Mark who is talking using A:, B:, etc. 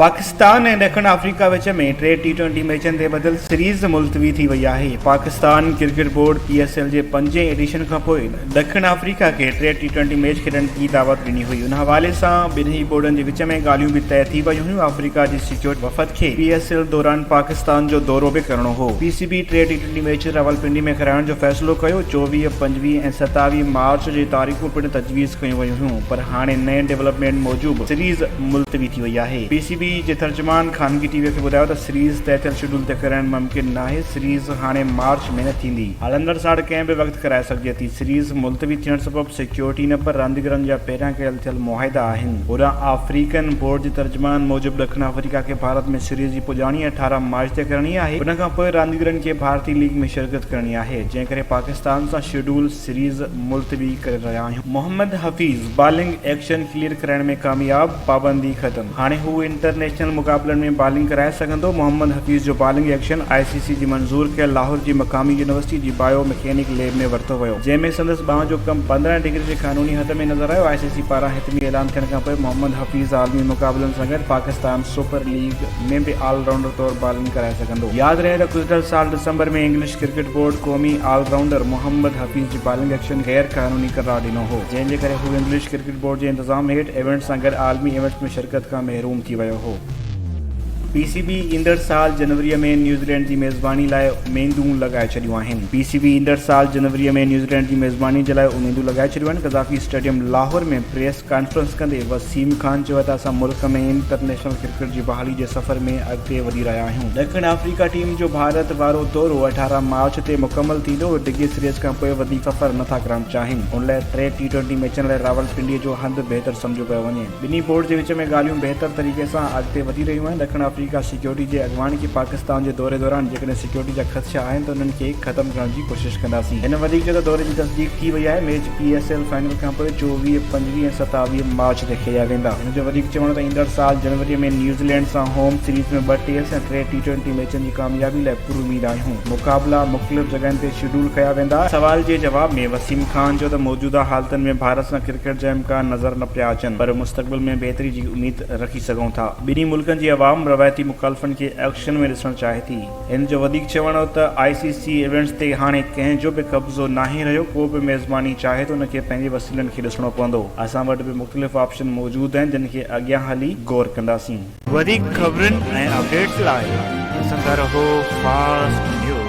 A: پاڪستان ۽ ڏکڻ آفريڪا وچ ۾ T T twenty ميچن تي ٻڌل سيريز ملتوي ٿي وئي آهي Pakistan cricket board P S L جي پنجين ايڊيشن کانپوء ڏکڻ آفريڪا کي ٽي ٽي ٽوئنٽي ميچ کيڏڻ جي دعوت ڏني هئي ان حوالي سان ٻنهي بورڊن جي وچ ۾ ڳالهيون به طئي ٿي ويون هيون آفريڪا جي سيڪيورٽ وفد کي پي ايس ايل دوران پاڪستان جو دورو به ڪرڻو هو P C B T T twenty match Rawalpindi ۾ ڪرائڻ جو فيصلو ڪيو چوويهه پنجويهه ۽ ستاويهه مارچ جي تاريخون پڻ تجويز ڪيون ويون هيون پر هاڻي نئين ڊولپمينٽ موجب سيريز ملتوي ٿي وئي آهي. پي سي بي جي ترجمان خانگي ٽي وي کي ٻڌايو ته سيريز طئه ٿيل شيڊول تي ڪرڻ ممڪن ناهي، سيريز هاڻي مارچ ۾ نه ٿيندي، هلندڙ ساڙ ڪنهن به وقت ڪرائي سگهجي ٿي، سيريز ملتوي ٿيڻ سبب سيڪيورٽي نه پر رانديگرن جا پهريان ڪيل ٿيل معاهدا آهن. هوڏانهن آفريڪن بورڊ جي ترجمان موجب ڏکڻ آفريڪا کي ڀارت ۾ سيريز جي پڄاڻي اٺارهن مارچ تي ڪرڻي آهي، ان کانپوء رانديگرن کي ڀارتي ليگ ۾ شرڪت ڪرڻي آهي، جنهن ڪري پاڪستان سان شيڊول سيريز ملتوي ڪري رهيا آهيون. Muhammad Hafeez bowling action clear ڪرائڻ ۾ ڪامياب، پابندي ختم، هاڻي هو انٽرنيشنل مقابلن ۾ بالنگ ڪرائي سگهندو، محمد حفيظ جو bowling action I C C جي منظور ڪيل لاهور جي مقامي يونيورسٽي جي بايو مڪينڪ ليب ۾ ورتو ويو جنهن ۾ سندس ٻانهن جو ڪم پندرهن ڊگري جي قانوني حد ۾ نظر آيو، آء سي سي پاران حتمي اعلان ٿيڻ کانپوء محمد حفيظ عالمي مقابلن سان گڏ پاڪستان سپر ليگ ۾ به آل رائونڊر طور بالنگ ڪرائي سگهندو، ياد رهي ته گذريل سال ڊسمبر ۾ انگلش. ڪرڪيٽ بورڊ قومي آل رائونڊر محمد حفيظ جي بالنگ ايڪشن غير قانوني قرار ڏنو هو، جنهن جي ڪري هو انگلش ڪرڪيٽ بورڊ جي انتظام هيٺ ايونٽس سان گڏ عالمي ايونٽس ۾ شرڪت کان محروم ٿي ويو هو. پي سي بي ايندڙ سال جنوري ۾ نيوزيلينڊ جي ميزباني لاء اميدون لڳائي ڇڏيون آهن. پي سي بي ايندڙ سال جنوري ۾ نيوزيلينڊ جي ميزباني جي لاء اميدون لڳائي ڇڏيون آهن، Gaddafi stadium Lahore ۾ press conference ڪندي وسيم خان چيو ته اسان ملڪ ۾ انٽرنيشنل ڪرڪيٽ جي بحالي جي سفر ۾ اڳتي وڌي رهيا آهيون، ڏکڻ آفريڪا ٽيم جو ڀارت وارو دورو اٺارهن مارچ تي مڪمل ٿيندو، ڊگهي سيريز کانپوء وڌيڪ سفر نه ٿا ڪرڻ چاهين، ان لاء ٽي ٽي ٽوئنٽي ميچن لاء راولپنڊي جو هنڌ بهتر سمجهيو پيو وڃي، ٻنهي بورڊز جي وچ ۾ ڳالهيون بهتر طريقي سان اڳتي وڌي رهيون آهن، ڏکڻ آفريڪا سيڪيورٽي جي اڳواڻ کي پاڪستان جي دوري دوران ڪڏهن سيڪيورٽي جا خدشا آهن ته انهن کي ختم ڪرڻ جي ڪوشش ڪنداسين. هن وڌيڪ چيو ته دوري جي تصديق ٿي وئي آهي، match P S L final کانپوء چوويهه، پنجويهه ۽ ستاويهه مارچ تي کيڏيا ويندا. هن جو وڌيڪ چوڻ هو ته ايندڙ سال جنوري ۾ نيوزيلينڊ سان هوم سيريز ۾ ٻه ٽيسٽ ۽ ٽي ٽي ٽوئنٽي ميچن جي ڪاميابي لاء پر اميد آهيون، مقابلا مختلف جڳهن تي شيڊول ڪيا ويندا. سوال جي جواب ۾ وسيم خان چيو ته موجوده حالتن ۾ ڀارت سان ڪرڪيٽ جا امڪان نظر نه پيا اچن پر مستقبل ۾ بهتري جي اميد رکي سگهون ٿا. ٻنهي ملڪن جي عوام روايتي مخالفن کي ايڪشن ۾ ڏسڻ چاهي ٿي. هن جو وڌيڪ چوڻ هو ته آء سي سي ايونٽس تي هاڻي ڪنهن جو به قبضو ناهي رهيو، ڪو به ميزباني چاهي ته ان کي پنهنجي وسيلن کي ڏسڻو پوندو، اسان وٽ به مختلف آپشن موجود آهن جن کي اڳيان هلي غور ڪنداسين. وڌيڪ خبرن ۽ اپڊيٽس لاء ڏسندا رهو فاسٽ نيوز.